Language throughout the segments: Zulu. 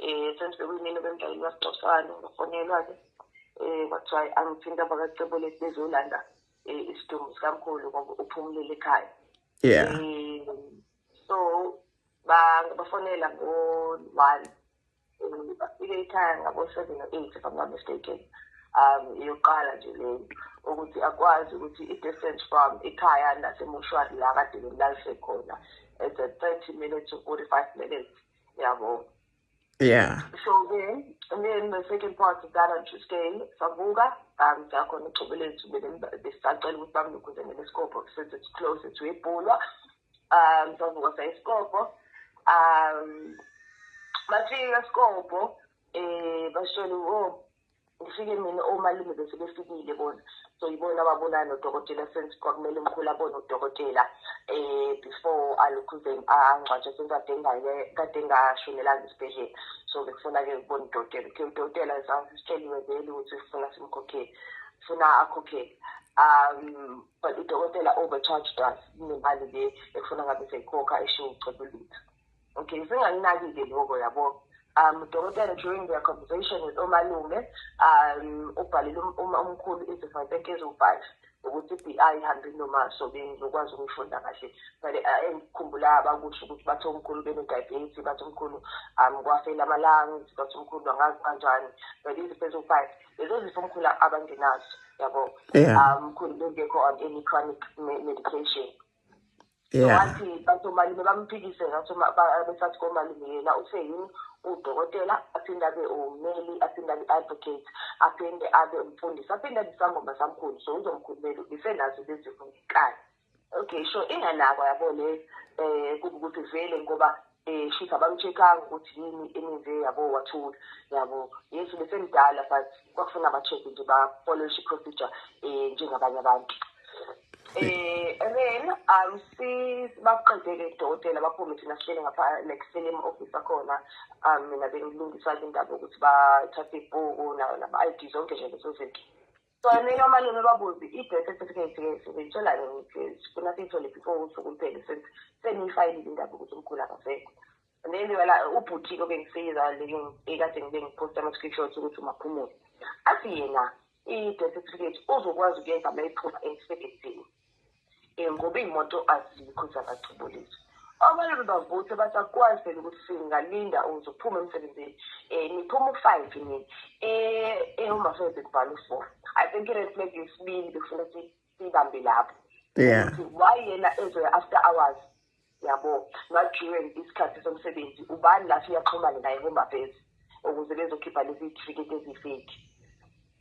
um sendifike kuyimina obemdlaleli wasixoxisana ngafonelwa-ke um kwathiwa angithinta abakacebo lesi bezolanda um isidumbu sikamkhulu ngoba uphumulele ekhaya yeah um so bafonela ngo-one bafike ekhaya ngabo-seven or eight if i'm not mistaken um iyoqala nje leyo ukuthi akwazi ukuthi i-distance from ikhaya nasemoshwari la kade bemlalise khona it's a thirty minutes to forty-five minutes yabo yeah so ke and then the second part of that on tuesday savuka um sakhona uxobo lethu besisacela ukuthi bamnukhuze ngesikobho since it's close to ibhulwa um savuka sayisikobho um bafika esikobho um bashele o oh, ufike mina omalume bese befikile bona so yibona ababonana nodokotela since kwakumele umkhulu abone udokotela eh before alokhuze angcwatshe since kade ngale kade ngashonelanga esibhedlela so bekufuna-ke ukubona udokotela okay udokotela sitsheliwe vele ukuthi sifuna simkhokhele funa akhokhele um but udokotela overcharged us nemali le ekufuna ngabe seyikhokha eshiwo ucebulutho okay singalinaki-ke loko yabo um dokotela during their conversation with omalume um ubhalele um, um, umkhulu izifo enkezi u-five ukuthi i-bi ihambe nomasobenzi ukwazi ukuyifunda kahle but uh, engikhumbula abakusho ukuthi bathi omkhulu benediabetes bathi omkhulu um kwafela ama-lungs bathi omkhulu angazi kanjani but izifo eziwu-five lezo zifo omkhulu abangenazo yabo um mkhulu bengekho on any chronic medication yeah wathi bathi umalume bamphikise ngathi uma- ba- besathi komalume yena uthe yini udokotela aphinde abe ummeli aphinde abe advocate aphinde abe umfundisi aphinde abe isangoma samkhulu so uzomkhulumela ubisenazo lezifo ngenkani okay so inganakwa yabo le um kuba ukuthi vele ngoba um shithi abamcheckanga ukuthi yini emenze yabo wathula yabo yes besemdala but kwakufuna ba-check nje bafollowishe i-procedure um njengabanye abantu Eh, then um si bakuqedele dokotela baphume thina sihlele ngapha like sihlele ema-office akhona um mina bengilungisa-ke indaba yokuthi bathathe ibhuku naba-i d zonke nje lezo zinto So I mean normally noma buzi i death certificate ke sebeyithola ke ukuthi kuna sithole before usuku luphele since seniyifayilile indaba ukuthi umkhulu akasekho. Then wala ubhuthi ke bengisiza leyo ekade ngibe ngiposta ama screenshots ukuthi umaphumule. Athi yena i death certificate uzokwazi ukuyenza mayiphuma emsebenzini. ngoba iy'moto azikho zabathubulisi abanye bebavuthe bathi akukwazi phela ukuthi singalinda ukuze kuphume emsebenzini um niphuma u-five nini um uma fele bekubhala u-four i think i-red flag yesibili bekufuneka siyibambe lapho yeah why yena ezoya after hours yabo ma-during isikhathi somsebenzi ubani la siyaxhumane naye home affairs ukuze bezokhipha lezi tifiketi ezifeki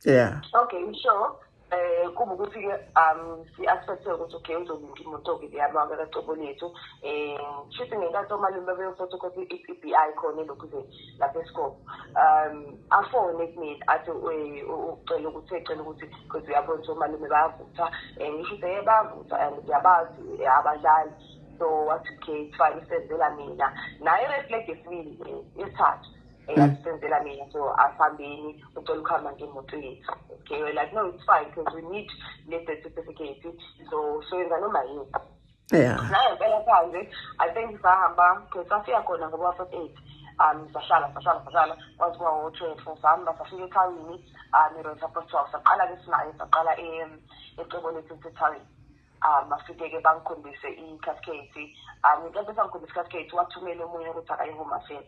yeah okay so eh kuba ukuthi-ke um si-aspecthe ukuthi okay uzolinda imoto-ke leyamaka kacobo lethu um shuthi ngenkathi omalume beyofotha ukuthi i-p b i khona elokhuzeni lapha esikole um afone kumina athi ucela ukuthi ecela ukuthi because uyabona ukuthi omalume bayavutha um ngisho ukuthi ye bayavutha and ngiyabazi abadlali so wathi okay fine isenzela mina naye reflect esibili yesithathu eyasisenzela mm. mina so asihambeni ucela ukuhamba ngemoto yethu okay like no it's fine because we need le death certificate so soyenza noma yini Yeah. nayo impela phandle i think sahamba because safika khona ngoba first aid um sahlala sahlala sahlala kwaze kuba wo-twelve sahamba safika ethawini um iroad sapos twelve saqala ke sinayo saqala em- ecebo lethu sethawini um bafike-ke bangikhombise i-cascade um ngenkathi besangikhombisa i-cascade wathumela omunye ukuthi akayi-home affairs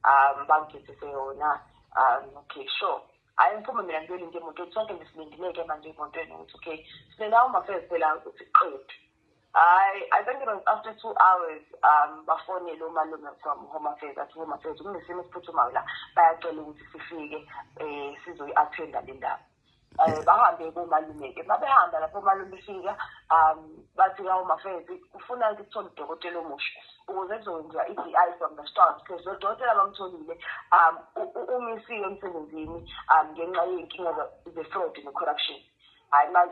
um bangigethise yona um okay sure hayi ngiphume mina ngiyolinde emotweni sonke nje silindileke manje emotweni ukuthi okay silenda umafezi phela ukuthi qedu hayi i think it was after two hours um bafonele umalume from home affairs athi home affairs kunesimo esiphuthumayo la bayacela ukuthi sifike um sizoyi-attenda le ndaba um bahambe komalume-ke uma behamba lapho omalume befika um bathi ka home affairs kufuna ukuthi kuthole udokotela omusha ukuze kuzokwenziwa i-di from the start because lodokotela bamtholile um umisiwe emsebenzini um ngenxa yey'nkinga ze-fraud ne-corruption hayi ma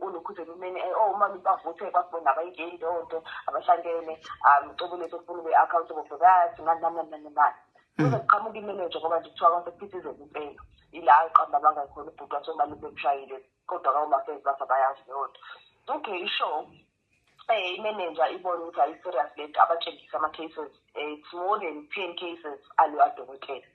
ulokhuzela umene eh, oh uma bavuthe kwakubona abayingeni leyo nto abahlangene um cobo lethu kufuna ube-accountable for that nani nani nani nani nani hmm. kuzoqhamuka imeneja ngoba nje kuthiwa abantu kuphithizela impela ila qamba bangakhona ubhuti wathi omali bemshayile kodwa kawomafezi basa bayazi leyo nto okay ishow Eh, imenenja ibone ukuthi ayi-serious lento abatshengisa ama-cases eh, it's more than ten cases aleyo adokotela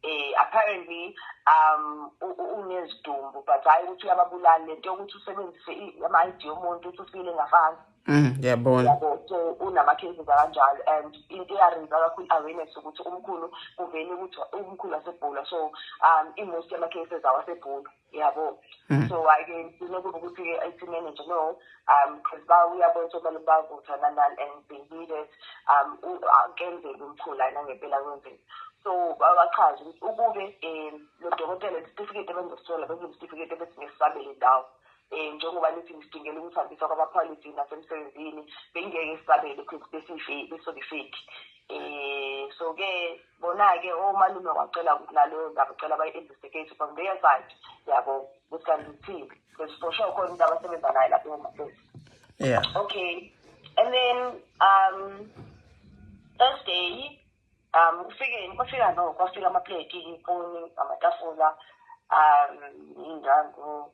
eh apparently um unezidumbu but hayi ukuthi uyababulala lento yokuthi usebenzise ama-id yomuntu ukuthi ufile ngafana mm, ngiyabona so unama-cases akanjalo and into eyarenza kakhulu awareness ukuthi umkhulu kuvele ukuthi umkhulu wasebhula so um i-most yama-cases awasebhula yabo mm. so ake ngifuna ukuba ukuthi i-IT manager no um because ba uyabona ukuthi abantu bavutha nanani and they need it um kenzeka umkhula nangempela kwenzeka so bachaze ukuthi ukube um lo dokotela isitifiketi ebengizosithola bengizisitifiketi ebesingesisabele indawo um njengoba nithi ngisidingela ukuhambisa kwamaphalithi nasemsebenzini bengingeke sisabele because besifeki besokifeki um so-ke bona-ke omalume oh, wacela ukuthi naleyo ndaba ucela bayi-endise case from their side yabo ukuthi kanti uthini because for sure khona umuntu abasebenza naye lapho emafesi yeah okay and then um thursday um ufike kwafika no kwafika amapleti ifoni amatafula um iy'ndango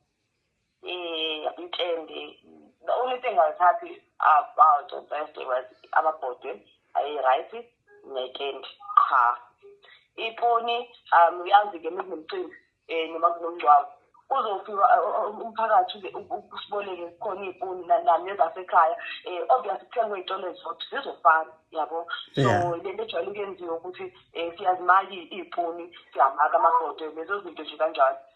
um mtshende the only thing i was happy about on thursday was amabhodwe ayi-right nekendi qha iponi um uyazi-ke mekunomcimbi um noma kunomngcwabo uzofika umphakathi usiboleke khona iy'puni nani ezasekhaya um obviously kuthengwe iy'tolo ezizodwa zizofana yabo so le nto ejwayele ukuyenziwa ukuthi um siyazimaki iy'puni siyamaka amagodo lezo zinto nje kanjalo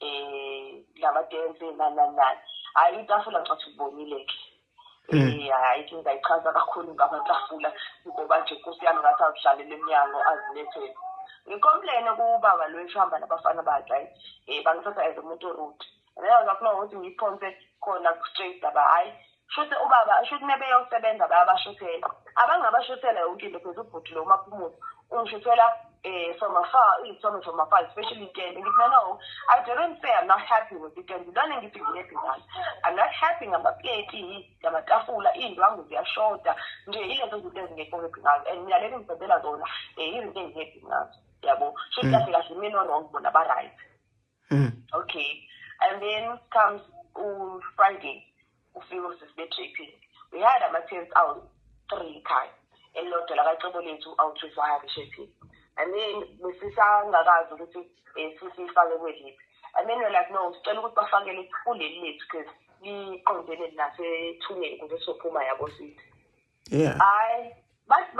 um lamadensi nananani hhayi itafula ncathi ubonile-ke um hmm. hhayi ke ngayichaza kakhulu ngamatafula ngoba nje nkosi yami ngathi azidlalele emnyango azilethele ngikomplene kubaba lo eshihamba nabafana bakhe hayi um bangithatha as umuntu orude nayazafuna ukuthi ngiphonse khona ku-straight aba hhayi Shuthi ubaba shuthi nebeyosebenza bayabashuthela abangabashuthela yonke into phela ubhuti lo umaphumulo ungishuthela eh from afar iyithombe from afar especially itende ngithi no no i didn't say i'm not happy with itende lona ngithi ngihappy ngayo i'm not happy ngamapleti ngamatafula iy'ndwangu ziyashoda nje yilezo zinto ezingekho happy ngazo and mina leli ngibhedela zona um izinto engihappy ngazo yabo shuthi kahle kahle mina no-wrong bona ba-right mm. okay and then comes ufriday ufike usisi be-draping we had ama-tents out three khaya elilodwa lakacebo lethu awuthuthi wahambe shepini and then besisangakazi ukuthi um sisifake kweliphi and then like no sicela ukuthi bafakele kuleli lethu because liqondene nasethuneni kuze sophuma yabo sithi yeah hayi bathi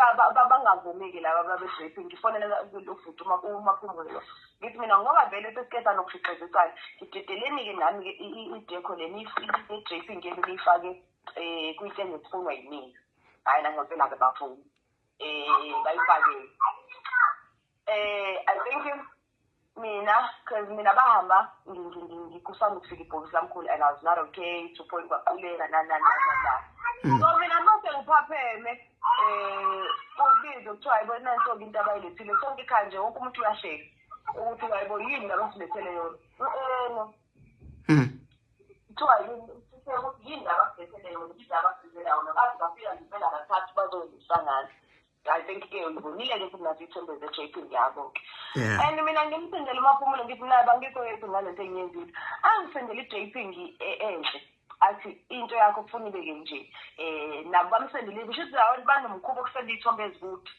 bangavumeki laba babe-rape ngifonela ubhuti umaphumbulo ngithi mina ngoba vele sesiqeda nokukhiqizisana ngidedeleni-ke nami-ke idekho le ne-draping yenu niyifake um kwinto engesifunwa yiningi hhayi nangempela-ke bafuni um bayifakele um i think mina because mina bahamba ngikusanda ukufika ibhokisi lamkhulu and i was not okay to point kwaquleka nanananana mm. so mina mase ngiphapheme um ubize kuthiwa yibo nansoke into abayilethile sonke ikhaya nje wonke umuntu uyasheka ukuthi wayibo yini labasilethele yona u-eno mm. kuthiwa yini labasilethele yona yini labasilethele yona baze bafika ngempela kathathu bazoyisangana I think ke ngibonile ke kunathi ithembe ze JP ngiyabo ke and mina ngimsendela umaphumulo ngithi naba ngikho yedwa ngalento engiyenzile angisendela iJP ngi e, enhle athi into yakho kufuna ibe ke nje eh nabo bamsendele kusho ukuthi abantu banomkhuba okusenda ithombe ezikude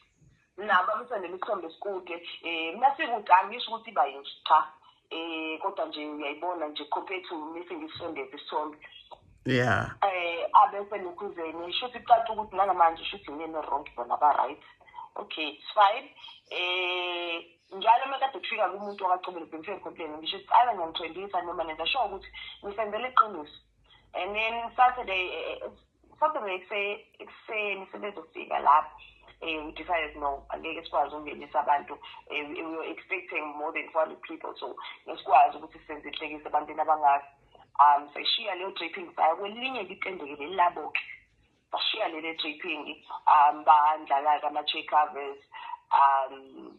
nabo bamsendele isithombe esikude eh mina sikude angisho ukuthi bayinje cha eh kodwa nje uyayibona nje compared to missing isondezi isonto yeah eh abese nokuzeni shuthi caca ukuthi nangamanje shuthi ngene wrong bona ba right okay it's fine eh njalo uma kade kufika kumuntu wakacobela bengifike complain ngisho ukuthi ayi ngiyamthwendisa noma nenza sho ukuthi ngisenzela iqiniso and then saturday eh, eh, Saturday ekuseni sebezofika lapho um we decided no angeke sikwazi ukungenisa abantu um we were expecting more than four hundred people so ngesikwazi ukuthi senze inhlekisa ebantwini abangaka um seshiya leyo draping saya kwelinye litendeke leli labo-ke bashiya leli draping um bandlala-ke ama-check covers um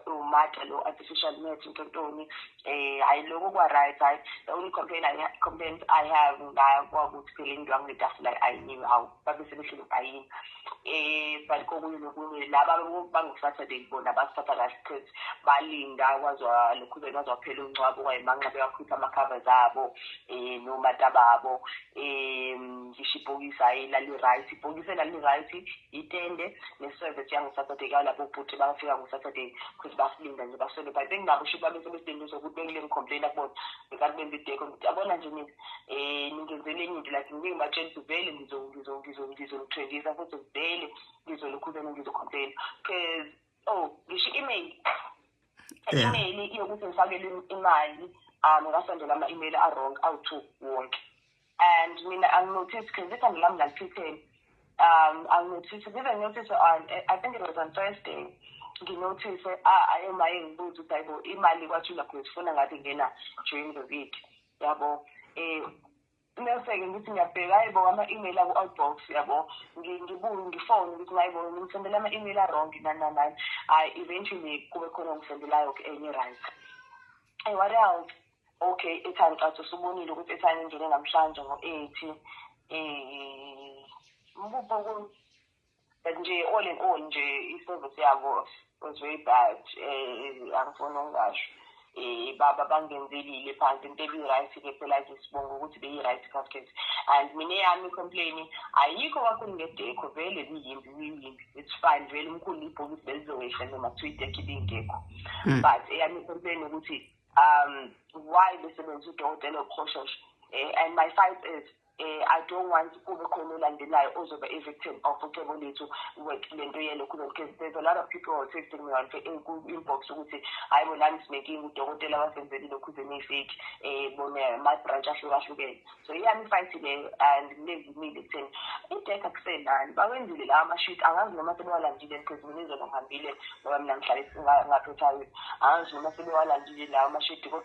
umata lo artificial net into ntoni eh hayi lokho kwa right hayi the only complaint i complaint i have ngakwa ukuthi phela into angitafula ayiniwe hawu babe sebehlele bayini eh but kokunye nokunye laba bangu saturday bona basithatha kahle cause balinda kwazwa lokhu ke kwazwa phela uncwabo kwayimanxa beyakhipha ama covers abo eh no matababo eh ngisho ibhokisi ayilali right ibhokisi elali right itende ne-service yangu-saturday kalabo bhuti bafika ngo-saturday because basilinda nje baswele but benginabo usho ukuthi babesebesideni sokuthi bengile ngicomplaina kubona bekathi benza ideko ngithi abona nje nina um ningenzele enye into like ngike ngibatshela ukuthi vele ngizonithwengisa futhi vele ngizolokhu vele ngizocomplaina because oh ngisho i-email i-email iyokuthi ngifakele imali um ngasondela ama-email a-wrong awu-two wonke and mina anginotice because ikhanda lami laliphitheni um anginotice ngize nginotice on i think it was on thursday nginotice ah, ayo maye ngibuze ukuthi hayibo imali kwathula khona sifuna ngathi ngena during the week yabo um Bese-ke ngithi ngiyabheka hhayi bo ama-email aku-outbox yabo ngibuye ngifone ukuthi hhayi bo ngisendela ama-email a-wrong nani nani nani hhayi eventually kube khona ongisendelayo-ke enye right ayi wari hawu okay ethi angicathi usubonile ukuthi ethi angingene namhlanje ngo-eighty um eh, mbubo but nje all in all nje i-service yabo was very bad um angifuni ukungasho um baba bangenzelile phansi into ebi-right ke phela ke sibonga ukuthi beyi-right casket and mina eyami i-complain ayikho kakhulu ngedekho vele liyimbi liyimbi it's fine vele umkhulu ibhokisi belizowehla noma kuthiwa idekho ibingekho hmm. but eyami i-complain ukuthi um why besebenzisa udokotela oqhoshosho um eh, and my fight is eh i don't want kube khona olandelayo ozoba i victim of ucebo lethu with lento yelo kulo because there's a lot of people who are texting me on ku inbox ukuthi hayi bo nami sinekinga udokotela wasenzeli lokhu ze nifake eh bona ma branch ahlukahlukene so iyami fight le and lezi mile kutheni idek akusenani bawenzile la ama shoot angazi noma sebewalandile because mina izolo ngihambile ngoba mina ngihlale ngaphethayo angazi noma sebewalandile la ama shoot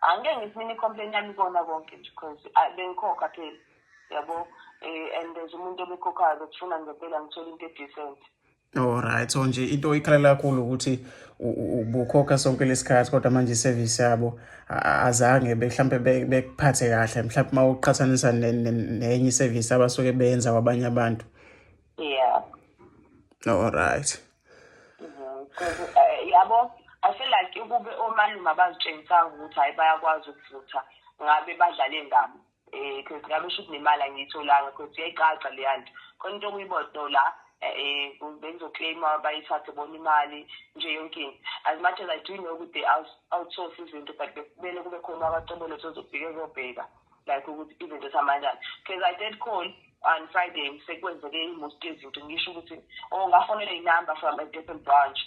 angike ngithi mina i-complain yami ikona konke nje because ah, bengikhokha phela yabo um and there's umuntu obekhokhayo bekufuna ngempela ngithole into edecent Alright so nje into ikhalela kakhulu ukuthi ubukhokha sonke lesikhathi kodwa manje iservice yabo azange mhlawumbe bekuphathe kahle mhlawumbe uma uqhathanisa nenye iservice abasuke beyenza kwabanye abantu. Yeah. Alright. Eh, yabo i feel like ukube omalume abazitshengisanga ukuthi hhayi bayakwazi ukuvutha ngabe badlale ngami um cause ngabe sho ukuthi nemali angiyitholanga cause iyayicaca leya nto khona into okuyibodo la um bengizoclaima bayithathe bona imali nje yonke into as much as i do know ukuthi they outsource izinto but bekumele kube khona abacobolo sozofike ezobheka like ukuthi izinto esamanyana because i did call on friday sekwenzeke i-most yezinto ngisho ukuthi o oh, ngafonele inumber from a different branch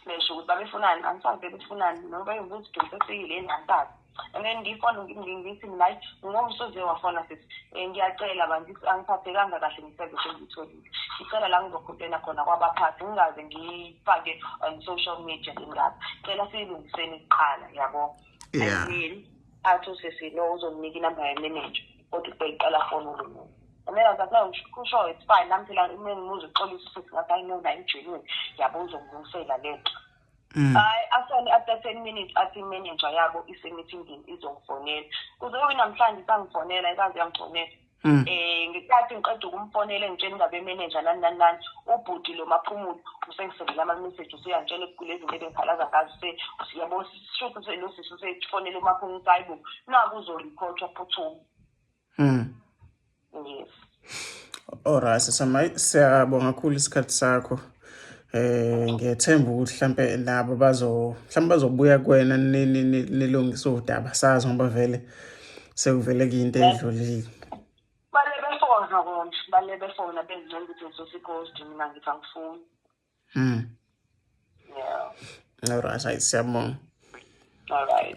besho ukuthi babefunani angisazi bebefunani noma bayingukuthi donsesiyile yini angisazi and then ngifona ngithi mina hayi ngingomsuze wafona sithi um ngiyacela bantu angiphathekanga kahle ngisezo sengiyitholile ngicela la ngizokhompena khona kwabaphathi ngingaze ngiyifake on social media ingazi cela siyilungiseni kuqala yabo yeah. athi usisi no uzomnika inumber yemanager kodwa ubeyiqala foni umuntu umela zathi no kusho it's fine nami phela uma ngimuze uxolisa usisi ngathi hayi no naye ujenile yabo uzongilungisela le nto Mm. hayi asone after ten minutes athi imanager yabo isemithindini izongifonela kuze kube namhlanje isangifonela ikaze yangifonela um ngesikhathi ngiqeda ukumfonela engitshela indaba yemeneja nani nani nani ubhuti lo maphumulo usengisendela ama-message usuyangitshela kule zinto ebengikhalaza ngazo yabo shuthi lo sisi usefonele umaphumulo ukuthi hayi bo naku uzoriphothwa phuthuma um yes Alright, siyabonga kakhulu isikhathi sakho. eh ngethemba ukuthi mhlambe labo bazo mhlambe bazobuya kuwena nilungise udaba sazi ngoba vele sekuvele kuyinto edlulile bale befona konje bale befona bengincela ukuthi ngisosigosti mina ngithi angifuni mm yeah all right siyabonga all right